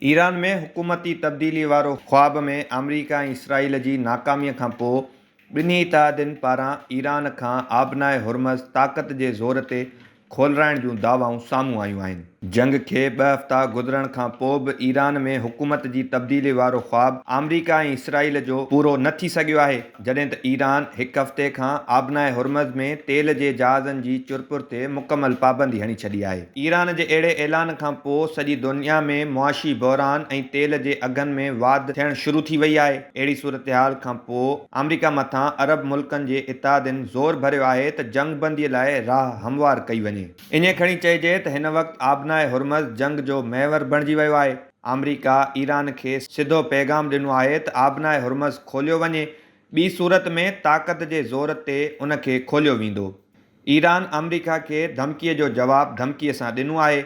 Iran ۾ حڪومتي تبديلي وارو خواب ۾ آمريڪا ۽ اسرائيل جي ناڪاميء کان پوء ٻنهي اتحادين پاران ايران کان آبناء هرمز طاقت جي زور تي کولرائڻ جون دعوائون سامهون آيون آهن. جنگ کي ٻه هفتا گذرڻ کان پوء به ايران ۾ حڪومت جي تبديلي وارو خواب آمريڪا ۽ اسرائيل جو پورو نه ٿي سگهيو آهي. جڏهن ته ايران هڪ هفتي کان آبناء هرمز ۾ تيل جي جهازن جي چرپر تي مڪمل پابندي هڻي ڇڏي آهي. ايران جي اهڙي اعلان کان پوء سڄي دنيا ۾ معاشي بحران ۽ تيل جي اگهن ۾ واڌ ٿيڻ شروع ٿي وئي آهي. اهڙي صورتحال کان پوء آمريڪا مٿان عرب ملڪن جي اتحادين زور ڀريو آهي ته جنگ بندي لاء راهه هموار ڪئي وڃي. ائين کڻي چئجي ته هن وقت آبناء هرمز جنگ جو محور بڻجي ويو آهي. آمريڪا ايران کي سڌو پيغام ڏنو آهي ته آبناء هرمز کوليو وڃي، ٻي صورت ۾ طاقت جي زور تي ان کي کوليو ويندو. ايران آمريڪا کي ڌمڪي جو جواب ڌمڪي سان ڏنو آهي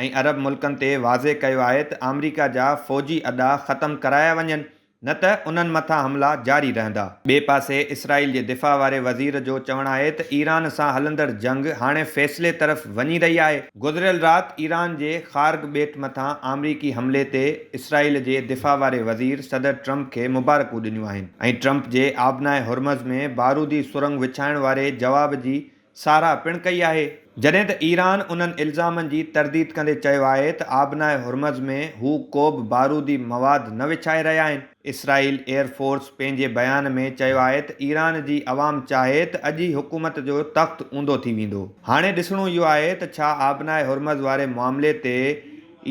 ۽ عرب ملڪن تي واضح ڪيو آهي ته آمريڪا جا فوجي اڏا ختم ڪرايا وڃن نه ته انهن مٿان حملا جاري رهندا. ٻئي پاسي اسرائيل جي دفاع واري وزير جو چوڻ آهي ته ايران سان هلندڙ جنگ هاڻي فيصلي طرف وڃي رهي آهي. گذريل رات ايران جي خارگ ٻيٽ مٿان آمريڪي حملي تي اسرائيل جي دفاع واري وزير صدر ٽرمپ کي مبارڪون ڏنيون آهن ۽ ٽرمپ جي آبناء هرمز ۾ بارودي سرنگ وڇائڻ واري جواب جي ساراهه پڻ ڪئي آهي. جڏهن ته ايران انهن الزامن جي ترديد ڪندي چيو آهي ته آبناء هرمز ۾ هو ڪوبه بارودي مواد نه وڇائي رهيا آهن. اسرائيل ايئر فورس پنهنجي بيان ۾ چيو آهي ته ايران جي عوام چاهي ته اڄ ئي حڪومت جو تخت اونڌو ٿي ويندو. هاڻي ڏسڻو اهو آهي ته ڇا آبناء هرمز واري معاملي تي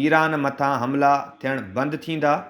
ايران مٿان حملا ٿيڻ بند ٿيندا؟